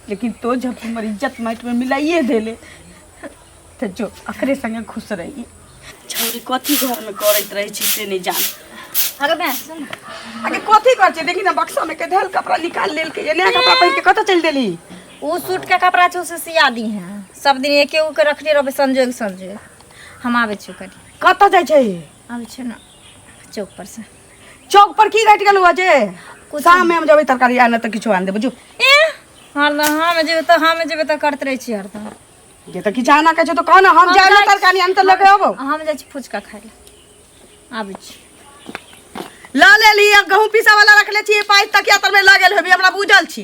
लेकिन तो जब हमर इज्जत माइट में मिलाइए देले तो जो अकरे संगे खुश रही छौरी कथी घर में करैत रहै छी से नहीं जान अरे बे सुन न। अरे कथी कर छै देखी ना बक्सा में के धल कपड़ा निकाल लेल के नया कपड़ा पहन के कतऽ चल देली उ सूट के कपड़ा छौ से सिया दी है सब दिन एके उ के रखले रहबे संजोग संजोग हम आबे छौ करी कतऽ जाइ छै आबे छौ ना चौक पर से चौक पर की घट गेल हुआ जे कुछ शाम में हम जबे तरकारी आने तो किछु आन देबो जो ए हरदम हम जेबे तऽ हम जेबे तऽ करत रहै छी हरदम जे तो किछु आना कहे तो कह ना हम जाए जाइ- तरकारी आन तो लेके आबो हम जाइ छी फुचका खाय लए आबै छी ला ले ली गहूं पीसा वाला रखले छी पाई तकिया तर में लागल होबी हमरा बुझल छी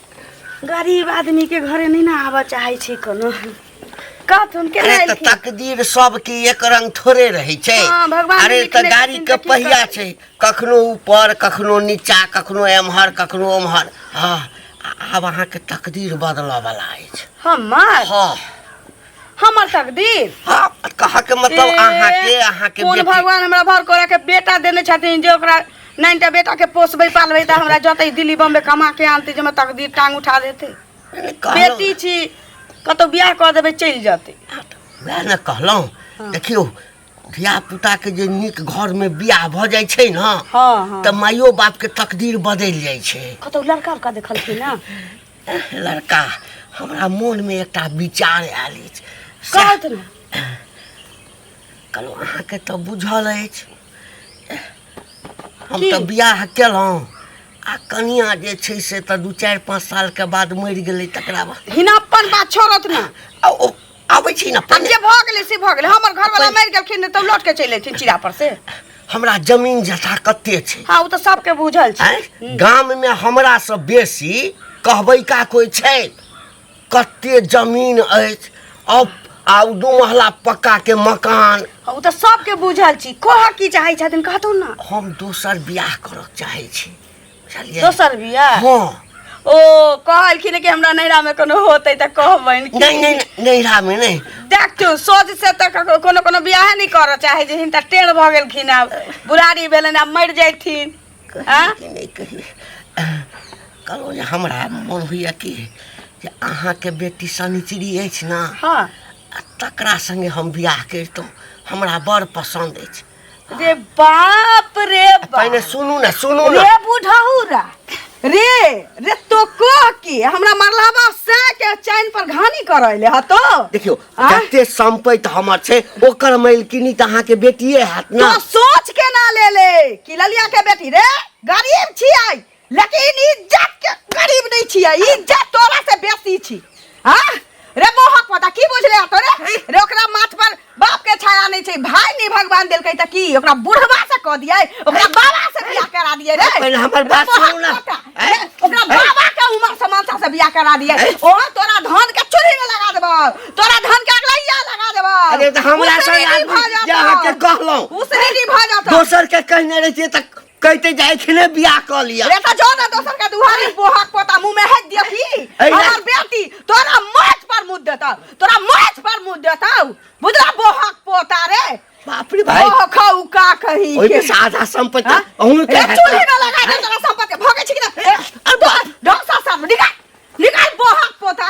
गरीब आदमी के घरे नहीं ना आवा चाहे छी कोनो कत हम के अरे लाइल तऽ की तकदीर सबके एक रंग थोड़े रहै छै हाँ, भगवान अरे तऽ लिखने गाड़ी छथिन के तऽ की पहिया करबै? छै कखनो ऊपर कखनो नीचा कखनो एम्हर कखनो ओम्हर हँ आ- आब अहाँके तकदीर बदलऽ बला अछि हमार हाँ हमर तकदीर हाँ कहा के मतलब ए, अहाँ के अहाँ के कोन बेटी भगवान हमरा भर करे के बेटा देने छथिन जे ओकरा नाइनटा बेटा के पोसबै पालबै तऽ हमरा जतै दिल्ली बम्बे कमा के आनतै जे हमर तकदीर टांग उठा देतै कहलहुँ- बेटी छी कतौ बियाह कऽ देबै चलि जेतै वएह ने कहलहुँ देखियौ धिया पुता के जे नीक घर में बियाह भऽ जाइ छै ने हँ हँ तऽ माइयो बाप के तकदीर बदलि जाइ छै कतौ लड़का उड़का देखलखिन ने लड़का हमरा मोनमे एकटा विचार आयल अछि कहत ने कहलहुँ अहाँके तऽ बुझल अछि हम की? तऽ बियाह केलहुँ आ कनिया जे छै से तऽ दू चारि पाँच सालके बाद मरि गेलै तकरा बाद हिना अपन बात छोड़त ने आ ओ आबै छी ना तब जे भऽ गेलै से भऽ गेलै हमर घरवाला मरि गेलखिन तऽ लौट के चलि अयथिन चिड़ा पर से हमरा जमीन जथा कते छै हाँ ओ तऽ सबके बुझल छै आँय? गाममे हमरासँ बेसी कहबैका कोइ छै कते जमीन अछि अब आ ओ दू महला पक्काके मकान हाँ, ओ तऽ सबके बुझल छी कहऽ की चाहै छथिन कहतौ ना हम दोसर बियाह करऽ चाहै छी बुझलियै दोसर बियाह हँ ओ कहलखिन कि हमरा नैहरा में कोनो होते त कहबैन कि नहीं नहीं नहीं, नैहरा में नहीं देखियो सोच से त ककरो- कोनो कोनो बियाह नहीं कर चाहे जे हिनका टेढ़ भ गेलखिन आब बुढ़ारी भेलन आब मर जैथिन हाँ? कहिए कि नहीं कहिए कहलहुँ जे हमरा मोन होइए कि जे अहाँके बेटी शनिचरी अछि ने हाँ आ तकरा संगे हम बियाह करितहुँ हमरा बड़ पसन्द अछि रे बाप रे बाप पहिने सुनू ना सुनू ना रे बुढ़ौरा रे रे तो कह के हमरा मरलाबा से के चैन पर घानी करैले ह तो देखियो आँय? जते संपैत हमर छै ओकर मैलकिनी त अहाँ के बेटिए हैत तो ना सोच के ना ले ले कि ललिया के बेटी रे गरीब छियै लेकिन इज्जत के करीब नहीं छिए इज्जत तोरा से बेसी छी हां रे मोहक पता की बुझले तो रे रे ओकरा माथ पर बाप के छाया नहीं छै भाई नहीं भगवान देल कहि त की ओकरा बुढ़वा से क दिए ओकरा बाबा से बियाह करा दिए रे पहले हमर बात सुनू ना ओकरा बाबा के उम्र समानता से बियाह करा दिए ओ तोरा धन के चोरी में लगा देबो तोरा धन के अगलैया लगा देबो अरे त हमरा से आदमी जहां के कहलो उसरी भ जातो दोसर के कहने रहिए त कहते जाए छले बियाह क लिया रे त जो ना दोसर के दुहारी बोहक पोता मुंह में हेक दिया की ऐ रे। हमर बेटी तोरा माछ पर मुंह देता तोरा माछ पर मुंह देता बुझला बोहक पोता रे बाप रे भाई ओह खाऊ का कही ओइ के में साधा संपत्ति हाँ? अहू रे के चूल्हे में लगा दे तोरा संपत्ति भगे छी कि ना? ए, अरे बा- डोसा सब निकाल निकाल बोहक पोता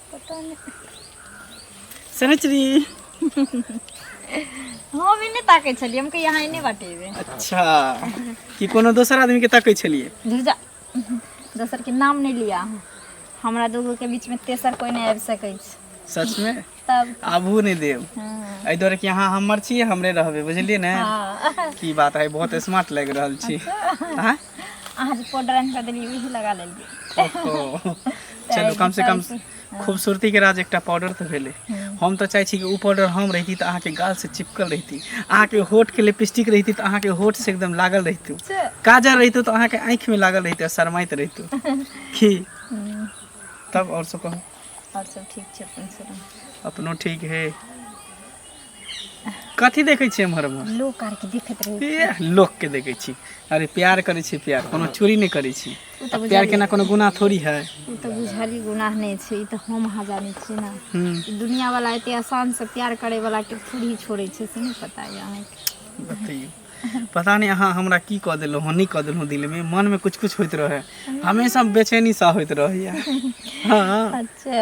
पता नहीं समझ रही हम ही नहीं ताके छलिए हमके यहाँ ही नहीं बटेबे अच्छा कि कोनो दोसर आदमी के तकै छलिए धुजा दोसर के नाम नहीं लिया हमरा दूगो के बीच में तेसर कोई नहीं आबि सकै छै सच में तब आबू नहीं देव हाँ, एहि दुआरे कि अहाँ हमर छी हमरे रहबै बुझलिए ने हाँ। की बात है बहुत स्मार्ट लग रहल छी हाँ? अहाँ जे पाउडर आनि कऽ देलियै उहे लगा लेलियै ओहो। चलू कम से कम खूबसूरती के राज एकटा पाउडर तऽ भेलै हम तऽ चाहै छी कि ओ पाउडर हम रहिती तऽ अहाँके गाल से चिपकल रहिती अहाँके होठ के लिपस्टिक रहिती तऽ अहाँके होठ से एकदम लागल रहितू से काजर रहितू तऽ अहाँके आँखि में लागल रहितू आ शरमाइत रहितू की हम्म, तब और सब कहू और सब ठीक छै अपन सुनाउ अपनो ठीक है कथी देखै छियै एम्हर एम्हर लोक आर के देखैत रहै एह, लोक के देखै छी अरे प्यार करै छी प्यार कोनो चोरी नहि करै छी ओ तऽ आ प्यार बुझलियै। केना कोनो गुनाह थोड़ी है ओ तऽ बुझली गुनाह नहि छै ई तऽ हम अहाँ जानै छियै ने हम्म, ई दुनिया वाला एते आसान से प्यार करे वाला के थोड़ी छोड़े छै से नहि पता यऽ अहाँके बतैयौ पता नहि अहाँ हमरा की कऽ देलहुँ हँ नहि कऽ देलहुँ दिलमे मनमे कुछ कुछ होइत रहै हमेशा बेचैनी सा होइत रहैया हँ अच्छा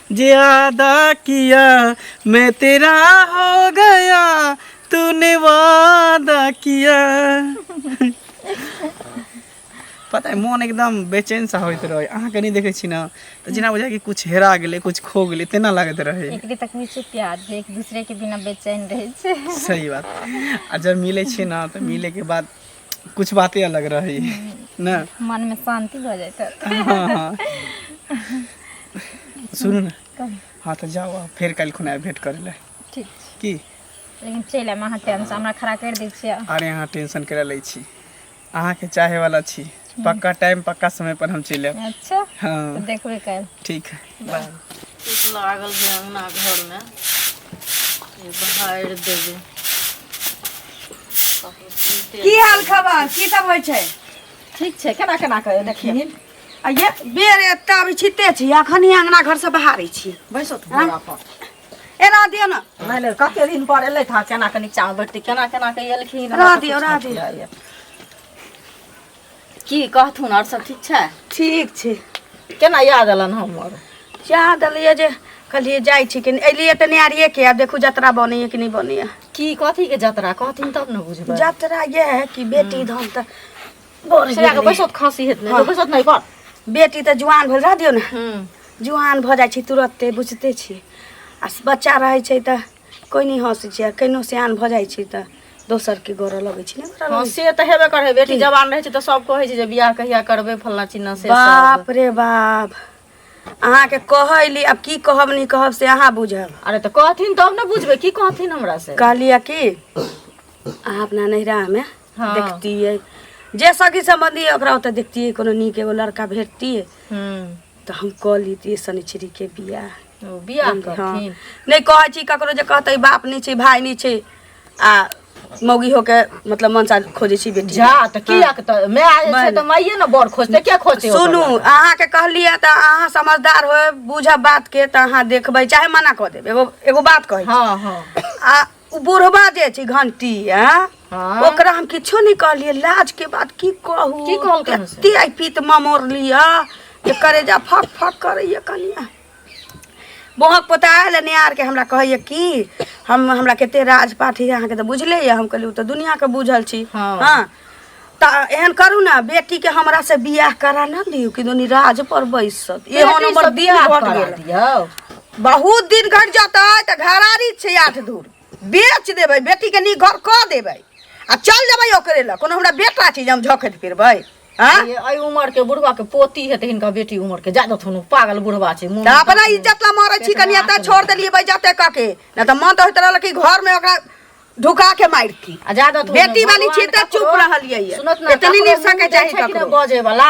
ज्यादा किया मैं तेरा हो गया तूने वादा किया पता है मोन एकदम बेचैन सा होइत रहे अहाँ कनी देखै छी ना तऽ जेना बुझाय कि कुछ हेरा गेलै कुछ खो गेलै तेना लागैत रहै एकरे तक में से प्यार जे एक दूसरे के बिना बेचैन रहे छे सही बात आ जब मिलै छियै ना तऽ मिलैके बाद कुछ बाते अलग रहै है ने मन मे शान्ति भऽ जाइत हँ सुनू ने कहू हँ तऽ जाउ आब फेर काल्हि खुना आयब भेँट करै लए ठीक छै की लेकिन चलि आयब अहाँ टाइमसँ हमरा खड़ा करि दै छियै अरे अहाँ टेंशन करै लै छी अहाँके चाहैवला छी पक्का टाइम पक्का समयपर हम चलि आयब अच्छा तऽ हँ देखबे काल्हि ठीक है चुट लागल छै अङ्गना घरमे बहारि देबै की हाल खबर की सब होइ छै ठीक छै केना केना कऽ देखिए आ ये बेर एतऽ अभी छिते छी अखन ही अङ्गना घरसँ बहारै छी बैसो तू बोरा पर एना दियो ने नहि नहि कते दिन पर एलै था केना कऽ नीचाँ बैठतै केना केना कऽ एलखिन रह दियौ, रह दियौ। दियौ की कहथुन आओर सब ठीक छै ठीक छै केना याद अलन हमर चाह देलियै जे कहलियै जाइ छी कि एलियै तऽ नारिये के आब देखू जतरा बनैया कि नहि बनैया की कथी के जतरा कहथिन तब ने बुझबै जतरा ये है कि बेटी धान तऽ बढ़ छेड़ा के गेलै। बैसत खसी हेत ने हँ। बैसत नहि कर बेटी तऽ जुआन भेल रह दियौ ने हूँ जुआन भऽ जाइ छै तुरते बुझते छी आ बच्चा रहै छै तऽ कोइ नहि हँसै छै आ केहनो सियान भऽ जाइ छै तऽ दोसरके गोरऽ लगै छै नहि गोरऽ हँ लगै छै से तऽ हेबे करे बेटी जवान रहै छै तऽ सब कहै छै जे बियाह कहिया करबै फल्ला चिन्ना से सब बाप रे बाप अहाँके कहैली आब की कहब नहि कहब से अहाँ बुझब अरे तऽ कहथिन तब ने बुझबै की कहथिन हमरा से कहलियै कि अहाँ अपना नैहरामे हँ। देखतियै जे सखी सम्बन्धी अइ ओकरा ओतऽ देखतियै कोनो नीक एगो लड़का भेटतियै हूँ तऽ हम कऽ लेतियै शनिचरीके बियाह ओ बियाह हँ। करथिन नहि कहै छी ककरो जे कहतै बाप नहि छै भाय नहि छै आ मौगी होके मतलब मनसा खोजै छी बेटी जा तऽ की हँ। तऽ माय आयल छै माय तऽ नहि। माइये ने बड़ खोजतै के खोजतै ओकर सुनू लड़का? अहाँके कहलियै तऽ अहाँ समझदार होएब बूझब बातके तऽ अहाँ देखबै चाहे मना कऽ देब एगो एगो बात कहै छी हँ हँ आ ओ बुढ़बा जे छै घंटी आ हाँ ओकरा हम किछो नहीं कहलिए लाज के बात की कहू की कहल कहन से? एते आई पीत ममोर लिया जे करे जा फक फक करैया कनिया बहक पोता आयल नियार के हमरा कहैया कि हम हमरा केते राज पाठी अहाँ के तऽ बुझले ये हम कहलिए तऽ दुनिया के बुझल छी हाँ। हाँ तऽ एहन करू ना बेटी के हमरा से बियाह करा ना दियौ कि दुनी राज पर बैसत एहो बेटी नंबर से बियाह बियाह करा गेल दियौ बहुत दिन घट जाता है तऽ घरारी छै आठ दूर बेच देबै बेटीके नीक घर कऽ देबै आ चल जेबै ओकरे लग कोनो हमरा बेटा छै जे हम झखैत फिरबै आँ ये, एहि उमर के बुढ़वा के पोती हेतै हिनका बेटी उमर के जादे थुनु पागल बुढ़वा छै मुँह तऽ अपना इज्जत ला मरै छी कनिया तऽ छोड़ देलियै बैजते कऽ के नहि तऽ मन तऽ होइत रहल कि घरमे ओकरा ढुका के मारिती आ जादे थुनु बेटी वाली छी तऽ चुप रहलियै ये। सुनत ना एतनी ककरो निशा के मुँह चाही देखै कि ककरो। नहि बजे वाला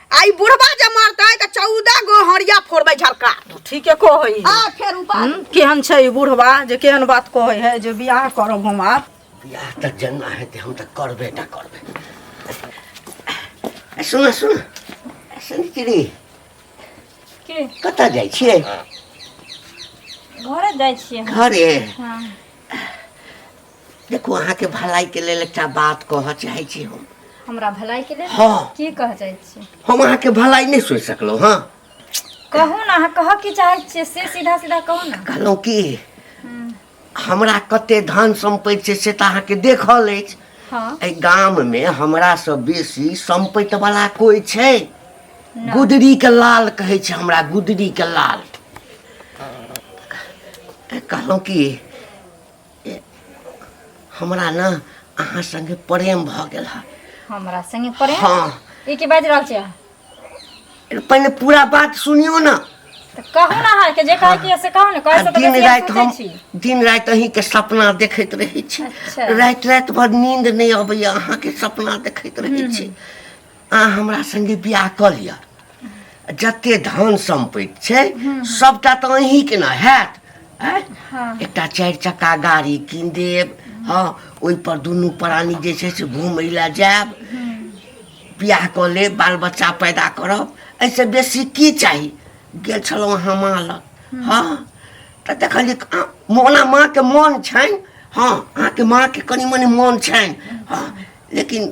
आई बुढ़वा जे मरते त चौदह गो हरिया फोड़बै झरका ठीके कहै है आ फेर ऊपर हम्म, केहन छै ई बुढ़वा जे केहन बात कहै है जे बियाह करब हम आब बियाह तऽ जेना हेतै हम तऽ करबे टा करबै ए, सुन सुन सनिचरी के कतऽ जाइ छियै घरे जाइ छियै घरे हँ देखो अहाँ के भलाई के लेल एकटा बात कह चाहे छी हम हमरा भलाई के लेल हाँ। की कह चाहे छी हम अहाँ के भलाई नहीं सोच सकलो हाँ कहू ना अहाँ कह की चाहे छी से सीधा सीधा कहू ना कहलहुँ कि हम्म, हमरा कते धन सम्पत्ति छै से तऽ अहाँके देखल अछि हाँ एहि गाममे हमरासँ बेसी सम्पत्ति वाला कोइ छै ना। गुदरीके लाल कहै छै हमरा गुदरीके लाल कहलहुँ कि हमरा ने अहाँ संगे प्रेम भऽ गेल है हमरा संगे पड़े हाँ ई की बाजि रहल छियै अहाँ? पहिने पूरा बात सुनियो ना तऽ कहू ने अहाँके जे कहै के से कहू ने आ कहै से तऽ दिन बेसी हम राति पूछै हम छी दिन राति अहींके सपना देखैत रहै छी अच्छा। राति राति भर नींद नहि अबैया अहाँके सपना देखैत रहै छी अहाँ हमरा संगे बियाह कऽ लिअ जते धन सम्पैत छै सबटा तऽ अहीं के ने हैत आँय? एकटा चारि चक्का गाड़ी कीन देब हँ ओहि पर दुनू प्राणी जे छै से घूमय लए जायब बियाह कऽ लेब बाल बच्चा पैदा करब एहिसँ बेसी की चाही गेल छलहुँ अहाँ माँ लग हँ तऽ देखलियै कि अहाँ- मोना माँके मोन छनि हँ अहाँके माँके कनि मनि मोन छनि हँ लेकिन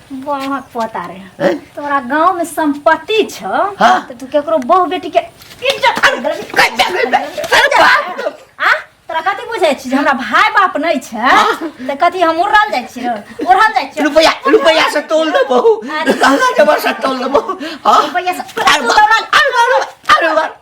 बाह पता रे हैं? तोरा गांव में संपत्ति छ हाँ। तो तू केकरो बहू बेटी के इज्जत कर देबी। कहि दे, कहि दे। अरे बाप रे। आ तोरा कथी बुझै छी जे हमरा भाय बाप नै छै त कथी हम उड़ल जाइ छी उड़ल जाइ छी रुपया रुपया से तोल दे बहू अरे। लहंगा जबर से तोल दे बहू हाँ रुपैया से अरे बाप, अरे बाप, अरे बाप।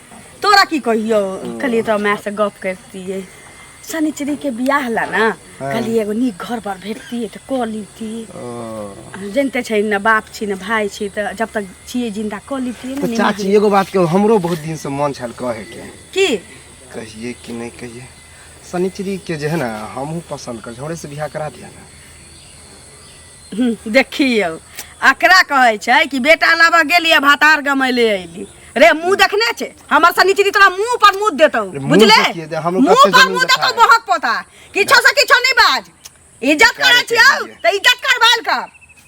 तोरा की कहियो कहलिए तो मैं से गप करतिए शनिचरी के बियाह ला ना कहलिए एगो नीक घर पर भेटतिए तो क लीती जनते छै न बाप छी न भाई छी तो जब तक छिए जिंदा क लीती तो चाची एगो बात के हमरो बहुत दिन से मन छल कहे के की कहिए कि नहीं कहिए शनिचरी के जे है ना हमहू पसंद कर हमरे से बियाह करा दिया ना देखियौ एकरा कहै छै कि बेटा लाबऽ गेलियै भातार गमैले अयली रे मुंह देखने छै हमर सनी चीज तोरा मुंह पर मुंह देतौ अरे मुंह बुझले देखिए दे, हमरो मुंह कते पर जमीन मुंह देखा देतौ है। बहक पोता किछो से किछो नहीं बाज इज्जत करे करे छियौ चाहिए। त इज्जत करबाल कर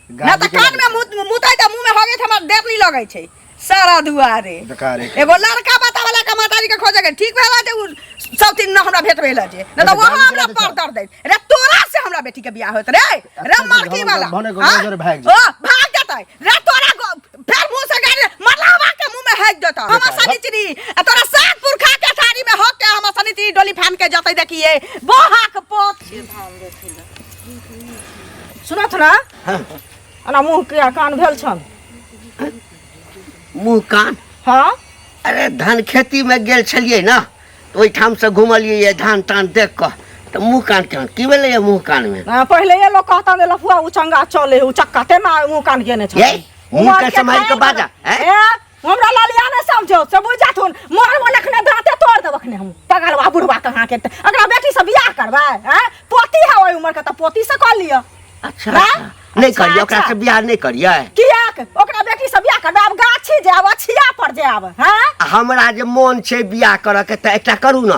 ना गाली त के कान में लगे मुंह मुंह त मुंह में होगे हमर देर नहीं लगे छै सारा दुआरे बेकार है एगो लड़का बता वाला का माताजी के खोजे के ठीक भेला जे उ सब दिन न हमरा भेट भेला जे न तो वहां हमरा पर दर दे रे तोरा से हमरा बेटी के बियाह होत रे रे मरकी वाला भने को हाँ? नजर भाग ओ भाग जतै रे तोरा गो- फेर मुंह से गाड़ी मरलावा के मुंह में हैक देता हम सनी चिनी आ तोरा सात पुरखा के साड़ी में हक के हम सनी चिनी डोली फान के जतै देखिए बोहा के पोत सुनत ना एना मुँह किया कान भेल छन मुँह कान हाँ अरे धान खेती में गेल छलिए ना तो ओहिठाम से घुमलिए ये धान तान देख कर तो मुँह कान केहन की भेलै ये मुँह कान में आ, पहिले ये लोग कहता ने लफुआ उ चंगा चले उ चक्का तेना मुँह कान केने छन ये मुँह के सम्हारि के बाजा हैं? ए हमरा ललिया ने समझो से बुझ जाथुन मारबो लखने दांते तोड़ देब अखने हम पगलवा बुढ़वा कहाँ के अगला बेटी से बियाह करबै हैं पोती है ओई उम्र के त पोती से कर लियो अच्छा ना? अच्छा। नहीं अच्छा, करिए ओकरा अच्छा। से बियाह नहीं करिए कियाक ओकरा बेटी से बियाह करबै आब गाछी जाब अछिया पर जाब हैं आ हमरा जे मोन छै बियाह करऽ के तऽ एकटा करू ने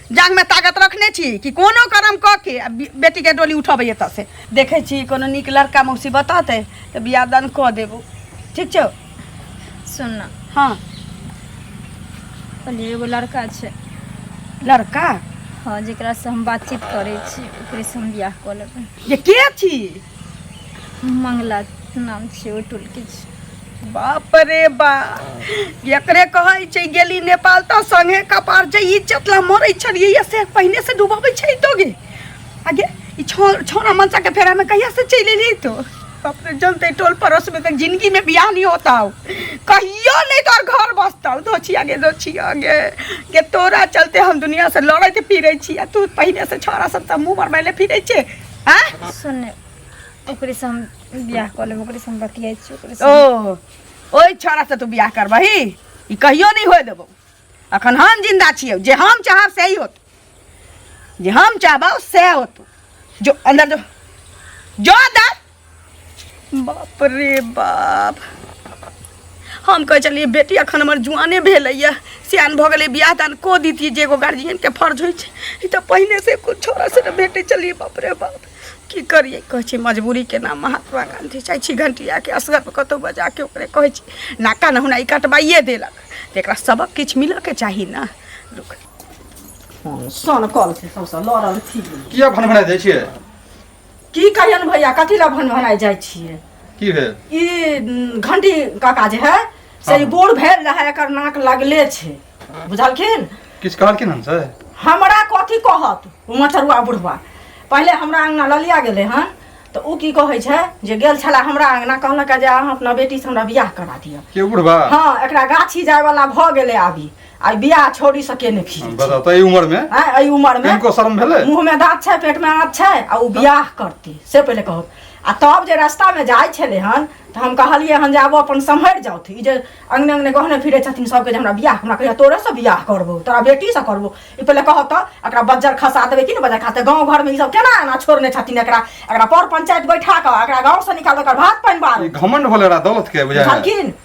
जांगमे ताकत रखने छी कि कोनो कर्म कऽ के आ बे- बेटीके डोली उठबै एतऽसँ देखै छी कोनो नीक लड़का मौसी बतौतै तऽ बियाह दान कऽ देबो ठीक छौ सुन ना हाँ कहलिए एगो लड़का छै लड़का हाँ जेकरा से हम बातचीत करै छी ओकरे से हम बियाह कऽ लेबै जे के छी मंगला नाम छियै ओहि टोलके छी बाप रे बा एकरे कहै छै गेली नेपाल तऽ संगे कपार जे इज्जत ला मरै छलियै से पहिने से डुबाबै छै तो गे आगे ई छौ छौरा मनसा के फेरा में कहिया से चलि एली तो बाप रे जनते टोल पड़ोस में तक जिंदगी में बियाह नहीं होता हो कहियो नहीं तोर घर बसता हो दोछी आगे दोछी आगे के तोरा चलते हम दुनिया से लड़े के फिरे छी आ तू पहिने से छौरा सब त मुंह मरबैले फिरे छे आ सुन ओकरे से हम बियाह कऽ लेब ओकरे से हम बतियाइ छी ओकरे से ओ ओहि छोरा से तू बियाह करबही ई कहियो नहीं होए देबो अखन हम जिंदा छियौ जे हम चाहब से ही होत जे हम चाहबौ से होत जो अंदर जो जो अंदर बाप रे बाप हम कहै छलियै बेटी एखन हमर जुआने भेलैए सियान भऽ गेलै बियाह दान कऽ दितियै जे एगो गार्जियनके फर्ज होइ छै ई तऽ पहिने से कुछ छोरा से ने भेटै छलियै बाप रे बाप की करियै कहै छै मजबूरी के नाम महात्मा गांधी जाइ छी घंटियाके असगरमे कतहु बजाके ओकरे कहै छी नाका नहुना ई कटबाइए देलक तऽ एकरा सबक किछु मिलऽके चाही ने रुक सन कल छै सौंसे लड़ल थी किया भनभना जाइ छियै की करियन भैया कथी ला भन भनाय जाय छियै की भेल ई उम, घंटी काका जे है से ई हाँ। बूढ़ भेल रहे एकर नाक लगले छै बुझलखिन किछु कहलखिन हमसे हमरा कथी कहत ओ मचरुआ बुढ़वा पहिले हमरा अंगना ललिया गेलै हन तऽ ओ की कहै छै जे गेल छला हमरा अंगना कहलक जे अहाँ अपना बेटीसँ हमरा बियाह करा दिअ के बुढ़बा हाँ एकरा गाछी जायवला भऽ गेलै आबी आई बियाह छोड़ी सके ने फिर बता तो ई उम्र में हैं आई उम्र में इनको शर्म भेले मुंह में दांत छै पेट में आंत छै आ उ बियाह करती से पहले कहो आ तब जे रास्ता में जाय छले हन त हम कहलिए हन जे आबो अपन संभर जाओ थी ई जे अंगने अंगने गहने फिरे छथिन सबके जे हमरा बियाह हमरा कहिया तोरे से बियाह करबो तोरा बेटी से करबो ई पहले कहो त एकरा बज्जर खसा देबे कि ने बज्जर खाते गांव घर में ई सब केना एना छोड़ने छथिन एकरा एकरा पर पंचायत बैठा के एकरा गांव से निकाल के एकर भात पानी ई बारो घमंड होले रहा दौलत के बुझाय है। झलकिन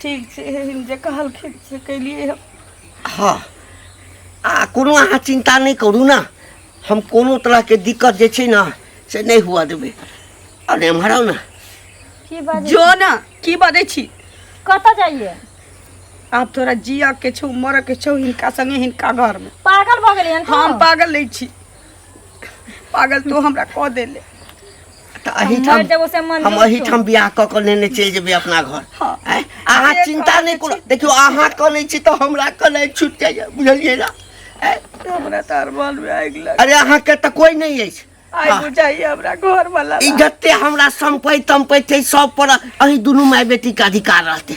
ठीक छै एहन जे कहलखिन से केलियै हम हँ आ कोनो अहाँ चिन्ता नहि करू ने हम कोनो तरहके दिक्कत जे छै ने से नहि हुअ देबै अरे एम्हर आउ ने की बाजै जो ने की बजै छी कतऽ जाइए आब तोरा जिया के छौ मरऽ के छौ हिनका संगे हिनका घर में पागल भऽ गेलियै हम पागल नहि छी पागल तू हमरा कह देले तऽ मर एहिठाम जब उसे मन हम नहीं एहिठाम बियाह कऽ कऽ लेने चलि जेबै अपना घर हँ। आँय? अहाँ अरे चिन्ता कहै नहि करू देखियौ अहाँ कनै छी तऽ हमरा कनै छूटि जाइए बुझलियै ने आँय? तो हमरा तो अरमान में आग लग अरे अहाँके तऽ कोइ नहि अछि आई हाँ। बुझाई हमरा घर वाला ई जते हमरा सम्पैत तम्पैत छै सब पर अहीं दुनू माय बेटी के अधिकार रहतै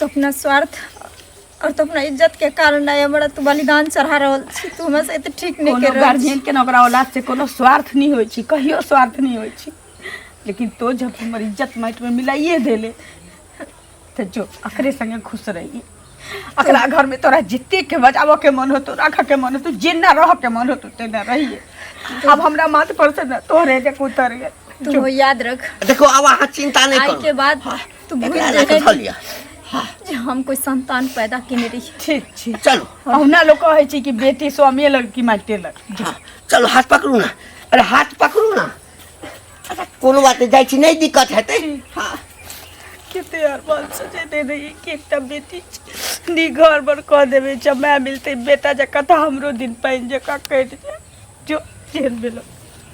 तो अपना स्वार्थ और तो अपना इज्जत के कारण आए बड़ा तू बलिदान चढ़ा रहल छी तू हमरा से एते ठीक नहीं कोनो कर रहल छी। गार्जियन के ना ओकरा औलाद से कोनो स्वार्थ नहीं होइ छै कहियो स्वार्थ नहीं होइ छै लेकिन तो जब हमर इज्जत माटि में मिलाइए देले तऽ जो एकरे संगे खुश रहिए अकरा घर में तोरा जितने के बजावो के मन होतो रख के मन होतो जेना रह के मन होतो तेना रहिए अब हमरा माथ पर से ना तोरे जे उतर गए तू वो याद रख देखो अब अहाँ चिंता नहीं आई के करू बाद तू भूल एकरा रख धऽ जाए लिअ जे हम कोई संतान पैदा केने रही ठीक ठीक चलू अहुना लोग कहे छी कि बेटी स्वामी लग कि माटे लग हाँ, चलू हाथ पकड़ू ना अरे हाथ पकड़ू ना कोनो बात जाइ छी नहि दिक्कत हेतै हाँ कते आर बाल सजे दे रही कि एकटा बेटी छै। नी घर बर कह देबे जमाय मिलते बेटा जका तऽ हमरो दिन पानि जका कटि जाय जो जेहन भेलो